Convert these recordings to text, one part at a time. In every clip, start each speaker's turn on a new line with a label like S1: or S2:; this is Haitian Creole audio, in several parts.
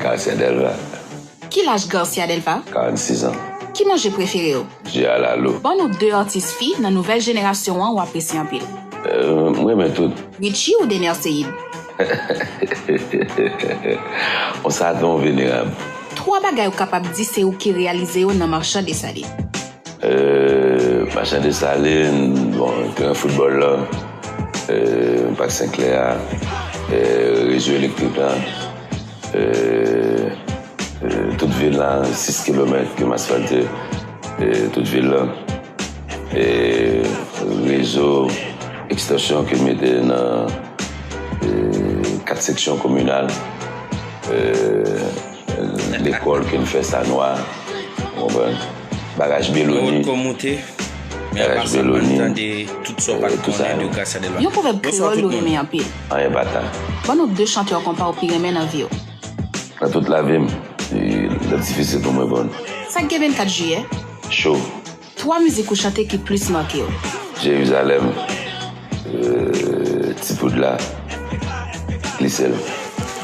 S1: Garcia
S2: Delva. Ki laj
S1: Garcia Delva? 46 ans.
S2: Ki manje prefere
S1: w? Je a la lou.
S2: Ban nou 2 atis fi
S1: nan nouvèl jenerasyon an ou apresye anpil. M renmen
S2: tout. Richie ou Dener
S1: Ceide?
S2: On sa don venerab. 3 bagay ou
S1: kapab di se ou ki reyalize yo nan Marchand Dessalines. Machan
S2: Desalin, bon, teren foutbòl la, Pak Senklè a, rezo elektrik la, tout vil la, 6 kilomèt ki asfalte tout vil la, rezo ekstansyon ki mete nan 4 seksyon kominal, lekòl ki nou fè sa nwa, ou konprann? Bagaj Beloni
S3: Yon pwovèb
S1: kreyòl ou renmen anpil Anyen pa ta
S2: Ban nou 2 chantè
S1: konpa ou pi renmen nan vi w Nan tout
S2: lavi m L ap difisil pou m reponn Sa k gen 24
S1: jiyè Cho
S2: 3 mizik
S1: ou chante ki plis make w Jerizalèm.
S2: Euh ti poud la li sèl.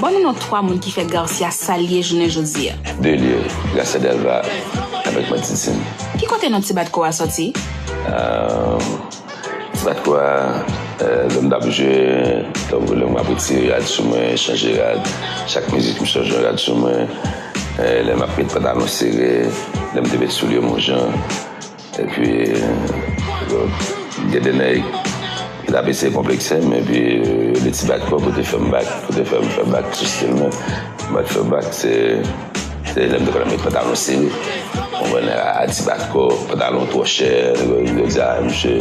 S2: Ban
S1: nou non 3 moun ki fè Garcia sa l ye jounen jodi a. Delye,
S2: Garcia Delva avèk Matissan. Ki kote non ti bat ko
S1: a sòti? Euh
S2: ti bat ko a lè m t ap jwe tankou lè m ap retire rad sou mwen, chanje rad, chak mizik m chanje yon rad sou mwen, lè m ap met pantalon sere, lè m te met soulye m yon jan. Epi gen de nèg ki t ap eseye konplekse m epi yo de ti bak kò pou te fè m bak, pou te fè m fè bak sou stil mwen. Mwen fè bak se lè m te konn met pantalon sere. Ou konprann nèg a ti bak kò, pantalon twò chè, nèg yo di a msye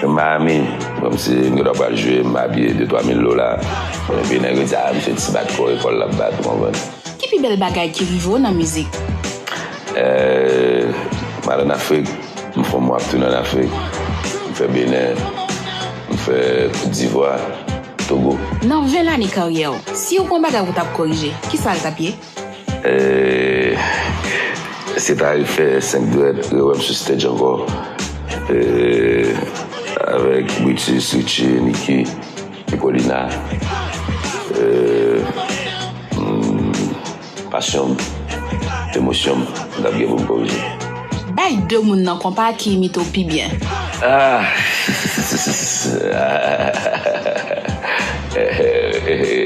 S2: nan Miami kòmsi m gen dwa pral jwe m abiye de twa mil dola. Epi nèg yo di a msye ti bak kò ekòl l ap bat ou konprann. Ki pi bèl bagay
S1: ki rive w nan mizik? Eeh
S2: m al an afrik m fon mwa ap tounen an afrik m fè benè m fè kot divwa togo. Nan 20 lane
S1: karyè w, si ou k on bagay ou tap korije, kisa l tap ye? Eeh
S2: se ta refè 5 dwèt, rewè m sou stage ankò eeh avèk Brutus, Richie, Nicky, Nicolina eeh. Pasyon m, emosyon m, m tap gen pou m korije. Bay 2
S1: moun nan konpa ki imite w pi byen.
S2: Ahh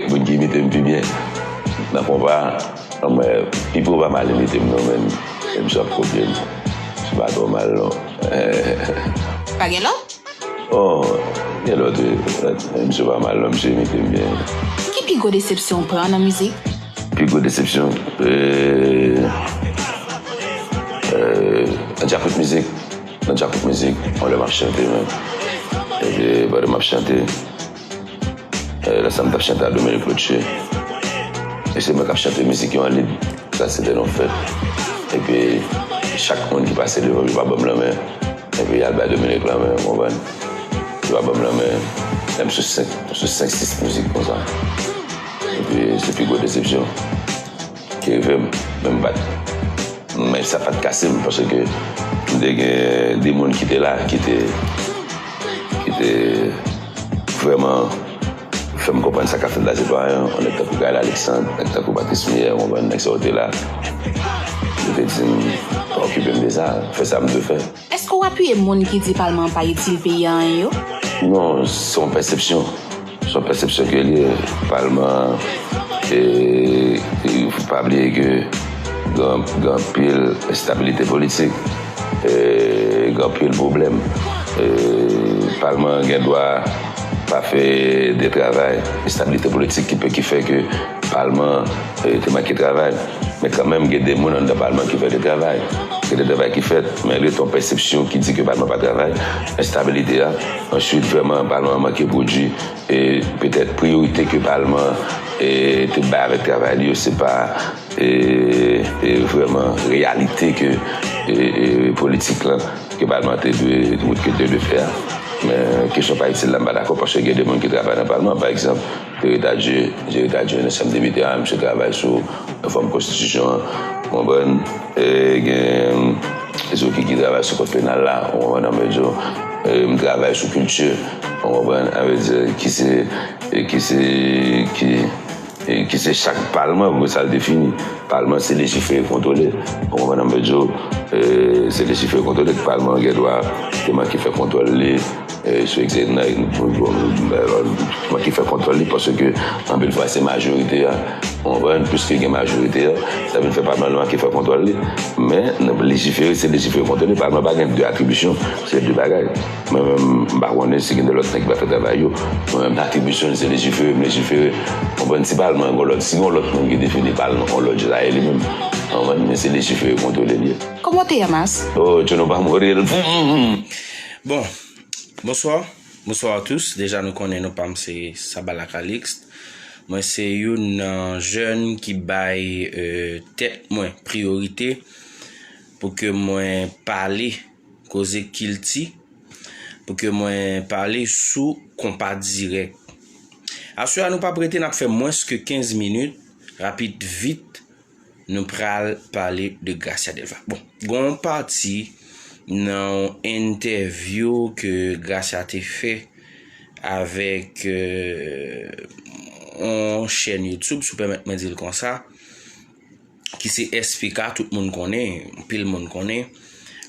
S2: Moun ki imite m pi byen nan konpa an mwen pipo pa mal imite m non men m sou ap kopye l. Li pa twò mal non.
S1: Pa gen lòt? Oh
S2: gen lot eh misye pa mal non misye imitem byen. Ki pi gwo
S1: desepsyon ou pran nan mizik? Pi gwo desepsyon
S2: nan djakout mizik nan djakout mizik yon lè map chante men epi pandan map chante Eh, lè sa m t ap chante ak Dominique Lotche, e se mwen k ap chante mizik yo an lib. Sa se te yon fèt. Epi, chak moun ki pase devan m, yo pa ban m lanmen. Epi, y al bay Dominique lanmen, ou konprann. Yo pa ban m lanmen, menm sou senk, sou senk sis mizik konsa. Epi, se pi gwo desepsyon. Te rive m, men m pa t. Men sa pa t kase m paske m te gen de moun ki te la ki te ki te vrèman fè m konprann sa k ap fèt la se pa anyen. Yon nèg tankou Gaël Alexandre, nèg tankou Patrice Mier, ou konprann, nèg sa yo te la. Yo te di m pa okipe m de sa, fè sa m dwe fè. Èske w apiye moun
S1: ki di palman an pa itil peyi a anyen yo? Non, se
S2: yon pèsepsyon. Se yon pèsepsyon ke li ye. Palman an, e fo pa bliye ke gen anpil enstabilite politik, gen anpil pwoblèm. Palman an gen dwa pa fè de travay. Enstabilite politik ki fè ke palman an E yo te manke travay. Men kanmenm gen de moun anndan palman ki vle travay. Gen de travay ki fèt, men rete yon pèsepsyon ki di ke palman pa travay, enstabilite a. Answit vrèman palman an manke pwodwi e petèt priyorite ke palman an te bay avèk travay li yo se pa vrèman reyalite ke politik lan ke palman an te dwe wout ke te dwe fè a. Men kesyon pa itil la m pa dakò paske gen de moun ki travay nan palman pa egzanp. Jere Dadjie, Jere Dadjie nan chanm depite a, misye travay sou refòm konstitisyon an, ou konprann, e gen Zoki ki travay sou kòd penal la, ou konprann an vle di yo, e m travay sou kilti, ou konprann, an vle di ki se, ki se, ki, ki se chak palman vre sa l defini, palman se lejifere kontwole, ou konprann an vle di yo, e se lejifere kontwole, palman an gen dwa te manke fè kontwòl li. Respekte nèg Mwen ki fè kontwòl li paske anpil fwa se majorite a ou konprann piske gen majorite a sa vin fè pa nòmal lwa ki fè kontwòl li men lejifere se lejifere kontwòl li pa nòmal pa gen 2 atribisyon se 2 bagay mwen menm m pa konnen si gen de lòt nèg ki pa fè travay yo mwen menm atribisyon m se lejifere m lejifere ou konprann si pa al mwen gen lòt si gen lòt moun ki defini pa l nan yon lòt je sa ye li menm ou konprann men se lejifere kontwòle li ye. Kòman w te Yamas?
S1: Oh Tchono pa mouri
S2: l pou m.
S3: Bon Bonswa Bonswa a tous deja nou konnen nou pam se Sabala Calixte mwen se youn nan jèn ki bay tèt mwen priyorite pou ke mwen pale koze kilti pou ke mwen pale sou konpa dirèk aswè a nou pap rete nap fè mwens ke 15 minit rapid vit Nou pral pale de Gracia Delva. Bon, gon pati nan entèvyou ke Gracia te fè avèk yon euh, chèn YouTube, sou pèmèt mwen di l konsa, ki se SPK, tout moun konnen, pil moun konnen.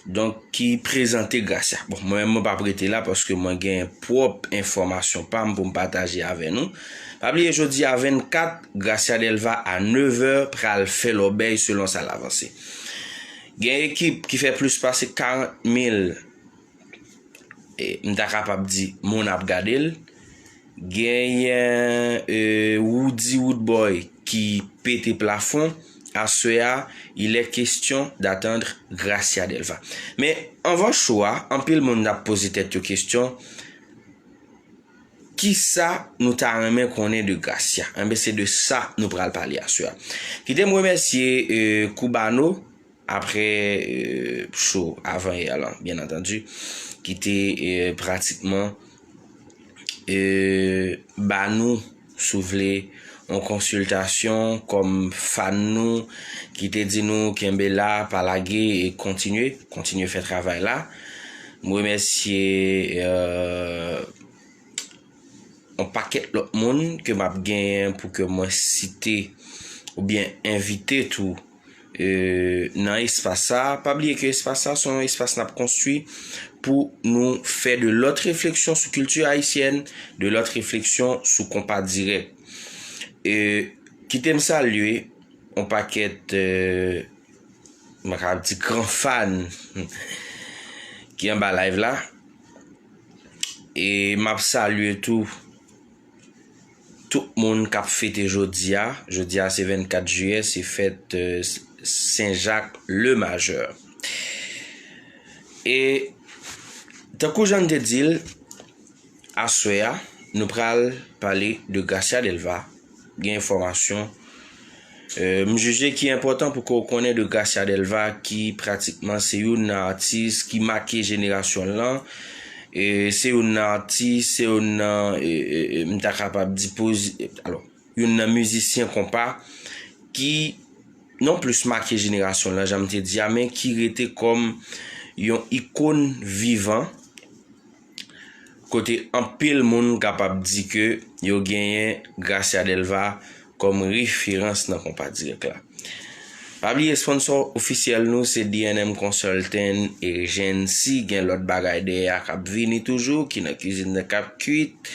S3: Donk ki prezante Gracia. Bon, mwen menm mwen pap rete la paske mwen gen pwòp enfòmasyon pa m pou m pataje avè nou. Pa bliye jodi a 24, Gracia Delva a 9 è pral fè lòbèy selon sa l avanse. Gen ekip ki fè plis pase 40 mil M ta kapab di moun ap gade l. Genyen Roody Roodboy ki pete plafon. Aswè a, il est question d'attendre Gracia Delva. Men, anvan cho a, anpil moun ap poze tèt yo kesyon, ki sa nou ta renmen konnen de Gracia? Enben, se de sa nou pral pale aswè a. Kite m remèsye Cubano. Apre show avan yè lan byen antandi ki te pratikman ba nou si w vle yon konsiltasyon kòm fan nou ki te di nou kenbe la pa lage e kontinye, kontinye fè travay la. M remèsye yon pakèt lòt moun ke m ap genyen pou ke mwen site oubyen envite tou. nan espas sa, pa bliye ke espas sa son espas nap konstwi pou nou fè de lòt refleksyon sou kilti ayisyèn, de lòt refleksyon sou konpa dirèk. E kite m salye on pakèt euh, mwen ka ap di gran fan ki anba live la e map salye tou Tout moun kap fete jodia, jodia se 24 jiyè se fèt Sen Jak le majè. E tankou jan n te di l, aswè a nou pral pale de Gracia Delva, gen enfòmasyon. M jije ki enpòtan pou ke w konnen de Gracia Delva ki pratikman se youn nan atis ki make jenerasyon l lan, se youn nan atis, se youn nan m ta kapab di alò youn nan mizisyen konpa ki non plis make jenerasyon l lan jan m te di a men ki rete kòm yon ikon vivan Kote anpil moun kapab di ke yo genyen Gracia Delva kòm referans nan konpa dirèk la. Pa bliye sponsò ofisyèl nou se DNM Consulting Agency, gen lòt bagay dèyè a kap vini toujou ki nan kizin nan kap kuit.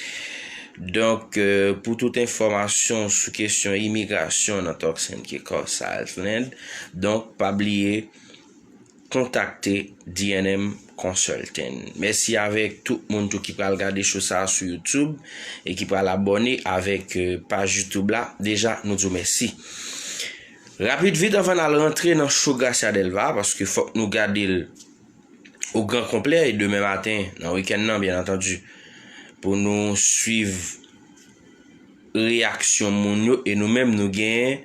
S3: Donk pou tout enfòmasyon sou kesyon imigrasyon nan Turks and Caicos Island, donk pa bliye. kontakte DNM Consulting. Mèsi avèk tout moun tou ki pral gade show sa sou YouTube e ki pral abòne avèk paj YouTube la. Deja nou di w mèsi. Rapid vit anvan n al rantre nan show Gracia Delva paske fòk nou gade l o gran konplè e demen maten nan weekend nan byen antandi pou nou swiv reyaksyon moun yo e nou menm nou gen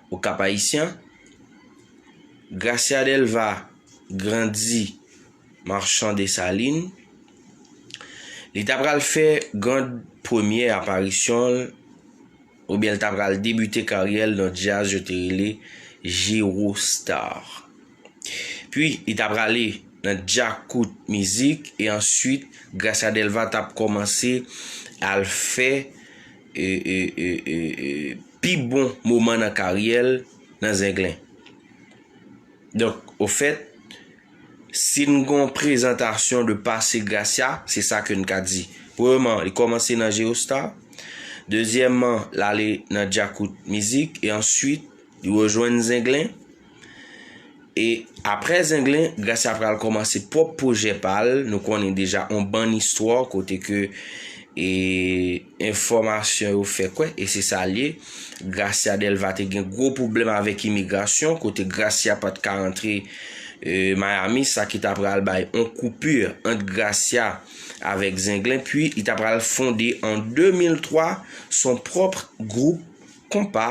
S3: O Kap Ayisyan, Gracia Delva grandi Marchand Dessalines. Li ta pral fè gran premyè aparisyon l oubyen l ta pral debite karyè l nan djaz yo te rele Jero Star. Pwi li ta prale nan Djakout Mizik e answit Gracia Delva tap kòmanse al fè pi bon moman nan karyè l nan Zenglen. Donk, ofèt, si n gen yon prezantasyon de pase Gracia, se sa ke n ka di. Premyeman, li kòmanse nan Geostar. Dezyèmman, l ale nan Djakout Mizik e answit li rejwenn Zenglen. E apre Zenglen, Gracia pral kòmanse pwòp pwojè pa l. Nou konnen deja on bann istwa kote ke e enfòmasyon yo fè kwè, e se sa l ye, Gracia Delva te gen gwo pwoblèm avèk imigrasyon kote Gracia pa t ka rantre e Miami sa ki ta pral bay on koupì ant Gracia avèk Zenglen pi li ta pral fonde an 2003 son pwòp gwoup konpa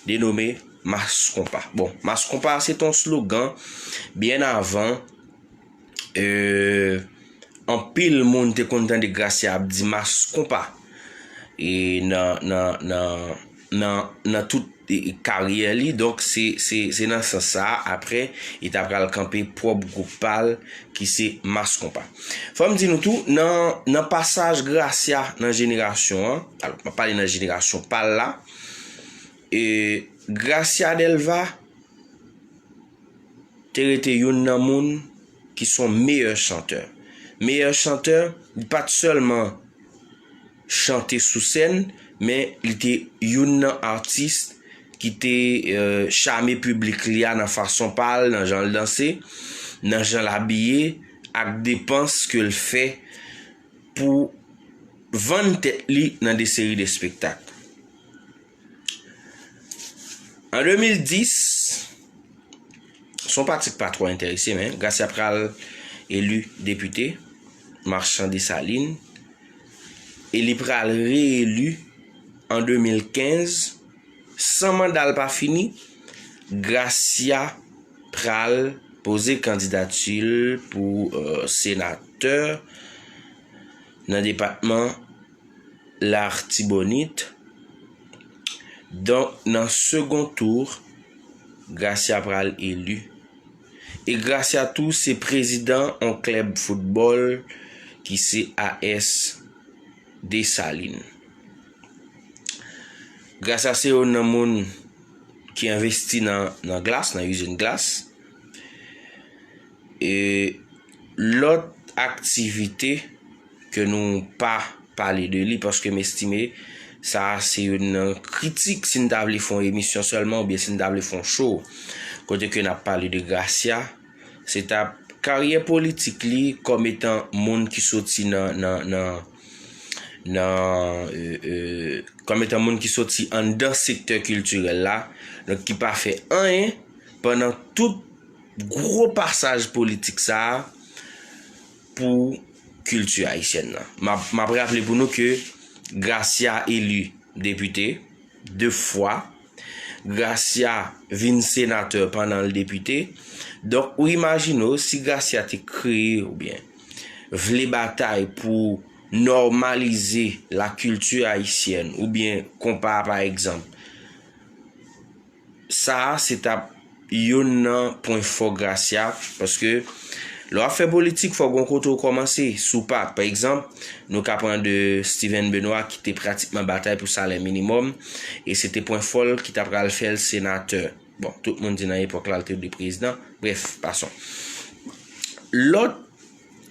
S3: denome Mass Konpa. Bon, Mass Konpa se te yon slogan byen avan anpil moun te konn tande Gracia ap di Mass Konpa e nan tout karyè li. Donk se nan sans sa a aprè li ta pral kanpe pwòp gwoup pa l ki se Mass Konpa. Fò m di nou tou nan pasaj Gracia nan jenerasyon an, m ap pale nan jenerasyon pa l la, E Gracia Delva te rete youn nan moun ki son meyè chantè. Meyè chantè, li pa t sèlman chante sou sèn, men li te youn nan atis ki te chame piblik li a nan fason pa l, nan jan l danse, nan jan l abiye ak depans ke l fè pou vann tèt li nan de seri de spektak. An 2010, se yon pati ki pa twò enterese men, Gracia pral eli depite Marchand Dessalines e li pral re-eli an 2015. San manda l pa fini, Gracia pral poze kandidati l pou senatè nan depatman. Lartibonit, donk nan second tour Gracia pral elu e Gracia tou se prezidan on klèb foutbòl ki se AS Dessalines. Gracia se youn nan moun ki envesti nan glas, nan izin glas e Lòt aktivite ke nou pa pale de li paske m estime sa a se youn nan kritik si n ta vle fè yon emisyon sèlman oubyen si n ta vle fè yon show kote ke n ap pale de Gracia se ta ap karyè politik li kòm etan moun ki soti nan kòm etan moun ki soti anndan sektè kiltirèl la donk ki pa fè anyen pandan tout Gwo pasaj politik sa a pou kilti ayisyèn nan. M ap raple pou nou ke Gracia eli depite 2 fwa. Gracia vin senatè pandan l depite. Donk ou imajine w si Gracia te kreye oubyen vle batay pou nòmalize lakilti ayisyèn oubyen konpa pa egzanp. Sa a se t ap youn nan pwen fò Gracia paske lè w ap fè politik fò w gen yon kote w kòmanse. Si w pa, pa egzanp, nou ka pran de Steven Benoît ki te pratikman batay pou salè minimòm e se te pwen fò l ki ta pral fè l senatè. Bon, tout moun di nan epòk la l te dwe prezidan. Brèf, pason. Lòt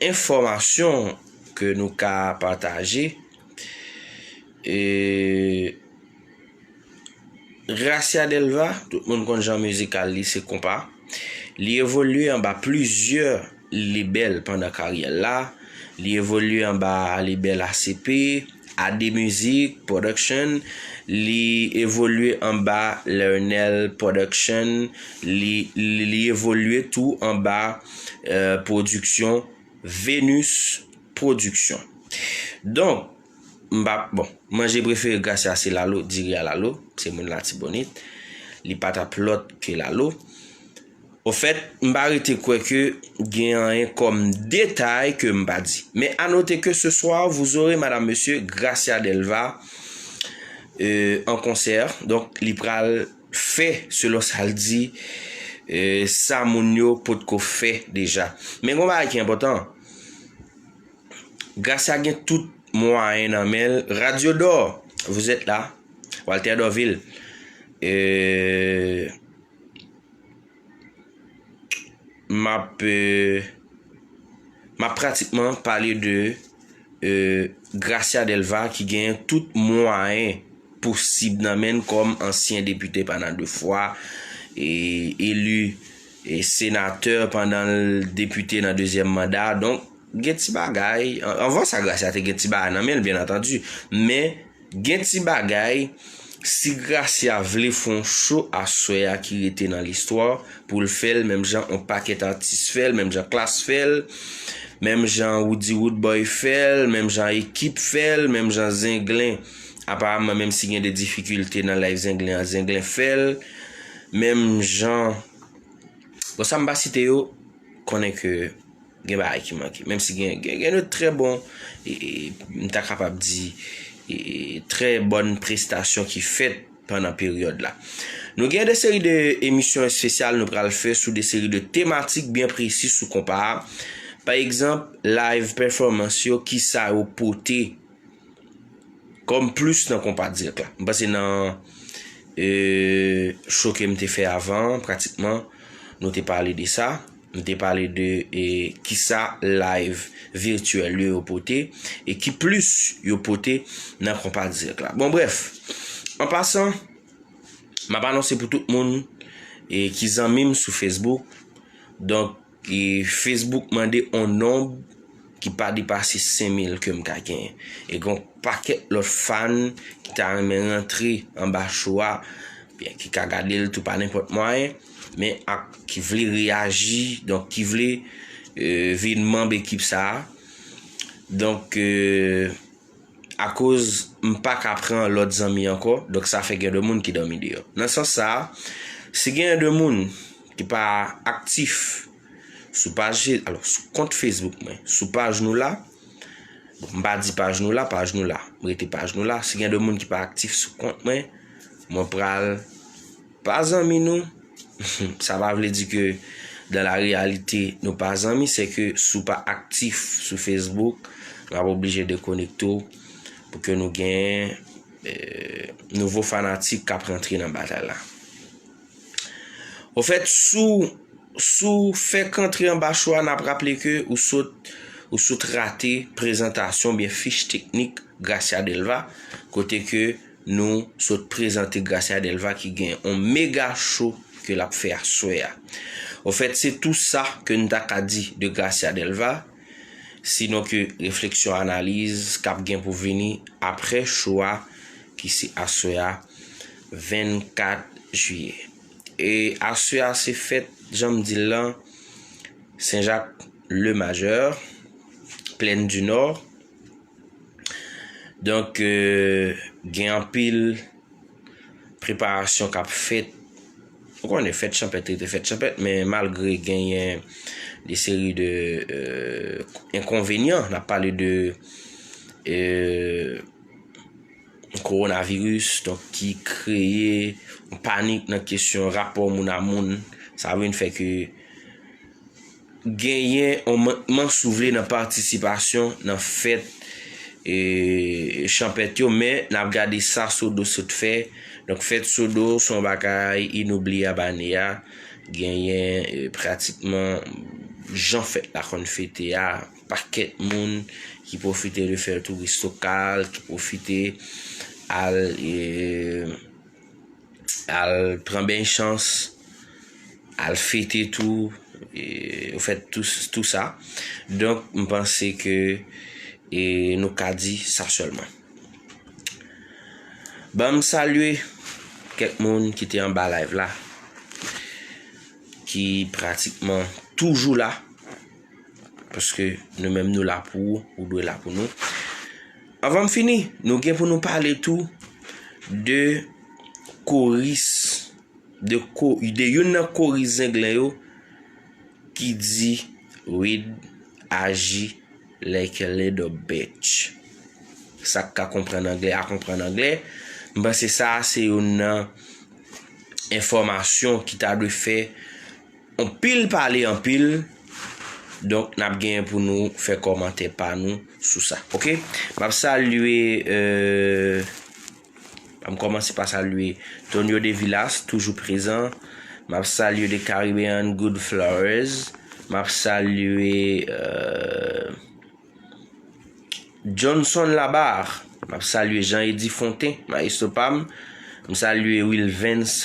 S3: enfòmasyon ke nou ka pataje e. Gracia Delva, tout moun konn jan mizikal li se konpa. Li evolye anba plizyè lebèl pandan karyè l la. Li evolye anba lebèl ACP, AD Music Production, li evolye anba Learnel Production, li evolye tou anba pwodiksyon Venus Production. Donk. M pa, bon, manje prefere Gracia se lalo, diri a lalo, se moun latibonit. Li pa tap lòt ke lalo. Ofèt, m pa rete kwè ke gen anyen kòm detay ke m pa di. Men a note ke ce soir vous aurez madame monsieur Gracia Delva euh en concert. Donk li pral fè selon sa l di sa moun yo potko fè deja. Men gon bagay ki enpòtan. Gracia gen tout mwayen nan men l radio d'or vous êtes là Walter Dorvil euh map euh map pratikman pale de euh Gracia Delva ki gen tout mwayen posib nan men l kòm ansyen depite pandan 2 fwa e elu senatè pandan l depite nan dezyèm manda donk Gen ti bagay, anvan sa Gracia te gen ti bagay nan men l byen antandi, men gen ti bagay si Gracia vle fè yon show aswè a ki rete nan listwa pou l fè l menm jan yon pakèt atis fè l, menm jan Klass fè l, menm jan Roody Roodboy fè l, menm jan Ekip fè l, menm jan Zenglen aparamman menm si gen de difikilte nan live Zenglen an Zenglen fè l, menm jan bon sa m pa site yo konnen ke Gen bagay ki manke. Menm si gen gen de trè bon e m ta kapab di e trè bòn prestasyon ki fèt pandan peryòd la. Nou gen de seri de emisyon espesyal nou pral fè sou de seri de tematik byen presi sou konpa a. Pa egzanp, live pèfòmans yo, kisa yo pote. Kom plus nan konpa direct la. M panse nan euh show kem te fè avan pratikman nou te pale de sa. M te pale de kisa live virtuel yo yo pote e ki plus yo pote nan konpa direct la. Bon bref, an pasan map anonse pou tout moun ki zanmim sou Facebook. Donk E Facebook mande on nonb ki pa depase 5 mil ke m ka genyen. E gen on pakèt lòt fan ki ta renmen rantre anba show a, oubyen ki ka gade l tou pa nenpòt mwayen, men ak ki vle reyaji, donk ki vle vin manb ekip sa a. Donk. akoz m pa ka pran lòt zanmi ankò, donk sa fè gen de moun ki dòmi deyò. Nan sans sa a, si genyen de moun ki pa aktif sou paj fe, alò sou kont Facebook mwen, sou paj nou la, m pa di paj nou la, paj nou la, m rete paj nou la, si gen de moun ki pa aktif sou kont mwen, mwen pral. Pa zanmi nou, sa pa vle di ke dans la réalité nou pa zanmi, se ke si w pa aktif sou Facebook, n ap oblije dekonekte w pou ke nou gen nouvo fanatik k ap rantre nan batay la. Ofèt, si w fèk rantre anba cho a, n ap raple ke ou sot ou sot rate prezantasyon oubyen fich teknik Gracia Delva kote ke Nou sot prezante Gracia Delva ki gen on mega show ke lap fè aswè a. Au fait se tou sa ke n ta ka di de Gracia Delva, sinon ke refleksyon analiz kap gen pou vini aprè show a ki se aswè a 24 juillet. E aswè a se fèt jan m di l lan Saint Jacques le Majeur, Plaine du Nord. Donk gen anpil preparasyon k ap fèt. Ou konnen fèt chanpèt rete fèt chanpèt men malgre genyen de seri de enkonvenyan, n ap pale de kowonaviris donk ki kreye panik nan kesyon rapò moun a moun sa vin fè ke. Genyen on mankman si w vle nan patisipasyon nan fèt chanpèt yo men n ap gade sa Sodo sot fè. Donk fèt Sodo se yon bagay inoubliyab ane a. Genyen pratikman jan fèt la konn fete a, yon pakèt moun ki pwofite de fè touris lokal, ki pwofite al. Al pran beny chans, al fete tou, ou fè tou sa. Donk m panse ke nou ka di sa sèlman. Ban m salye kèk moun ki te anba live la, ki pratikman toujou la, paske nou menm nou la pou ou, ou dwe la pou nou. Anvan m fini, nou gen pou nou pale tou de koris, de youn nan koris zenglen yo ki di Reed aji like a little bitch. Sa k ka konprann anglè a konprann anglè. M panse sa a se youn nan enfòmasyon ki ta dwe fè Anpil pale anpil donk nap gen pou nou fè kòmantè pa nou sou sa ok map salye ann kòmanse pa salye Tonio de Vilas toujou prezan map salye de Caribbean good flowers map salye Johnson Labarre map salye Jean Eddy Fontin maestro pam m salye Wilvens.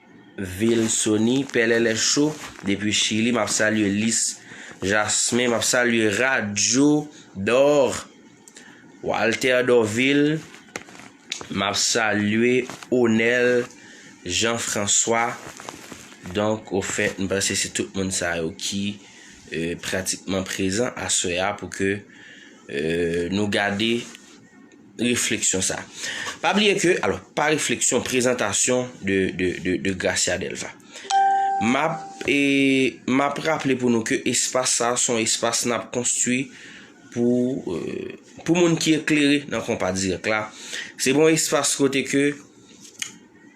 S3: Vilsony pèlèlè show depi chili map salye lis jasmin map salye radyo dor walter dorvil map salye onel jean François donk ofèt m panse se tout moun sa yo ki pratikman prezan aswè a pou ke nou gade refleksyon sa. Pa bliye ke, alò, pa refleksyon, prezantasyon de Gracia Delva. Map, e, map raple pou nou ke espas sa son espas nap konstwi pou, e, pou moun ki eklere nan konpa dirèk la. Se bon espas kote ke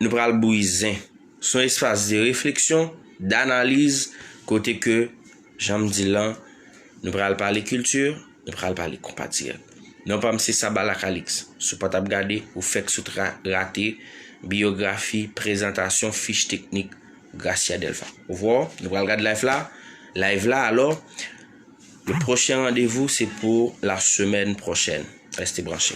S3: nou pral bouyi zen. Son espas de refleksyon, d'analiz, kote ke Jan m di l lan, nou pral pale kilti, nou pral pale konpatriyòt. Non pa m se Sabalak Alix. Si w pa t ap gade, ou fèk sot rate biyografi, prezantasyon, fich teknik Gracia Delva. Ouvò, nou pral gad live la, live la alò, le pwochen randevou se pou la semèn pwochèn. Reste branche.